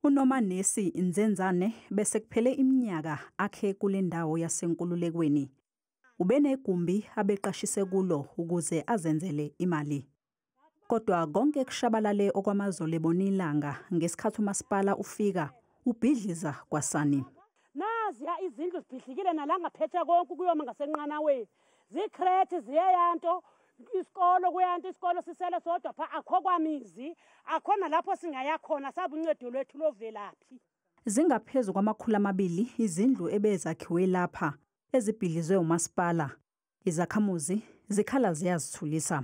UNomanesi Nzenzane bese kuphele iminyaka akhe kule ndawo yasenkululekweni. Ubenegumbi abeqashise kulo ukuze azenzele imali. Kodwa konke kushabalale okwamazolo ebona ilanga ngesikhathi umasipala ufika ubhidliza kwasani. Naziya izindlu zibhidlikile nalangaphethe konke ukuyoma ngasenqanaweni. zikrethi ziyeyanto isikolo kuyanto isikolo sisele sodwa pha akho kwamizi akhona lapho singaya khona sabe uncedo lwethu lovelaphi zingaphezu kwamakhulu amabili izindlu ebezakhiwe lapha ezibhidlizwe umasipala izakhamuzi zikhala ziyazithulisa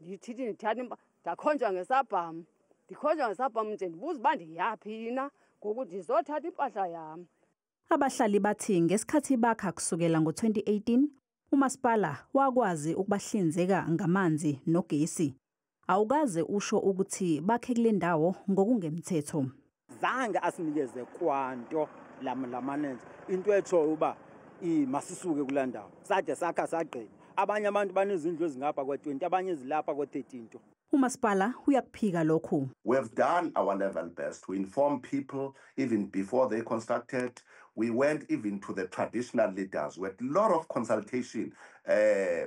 ndithithi ndithatha impa ndakhonjwa ngesabham ndikhonjwa ngesabham nje ndibuza uba ndiyaphi yina ngoku ndizothatha impahla yam abahlali bathi ngesikhathi bakha kusukela ngo-2018 umasipala wakwazi ukubahlinzeka ngamanzi nogesi awukaze usho ukuthi bakhe kule ndawo ngokungemthetho zange asinikeze kwanto la manager into etshoyo uba masisuke kula ndawo sade sakha sagqiba abanye abantu banezindlu ezingapha kwa-20 abanye ezilapha kwa-13 nto umasipala uyakuphika lokhu we have done our level best to inform people even before they constructed we went even to the traditional leaders with a lot of consultation uh,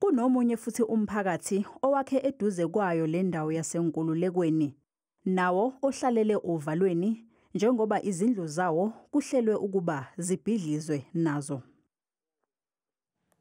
Kunomunye futhi umphakathi owakhe eduze kwayo le ndawo yaseNkululekweni, nawo ohlalele ovalweni njengoba izindlu zawo kuhlelwe ukuba zibhidlizwe nazo.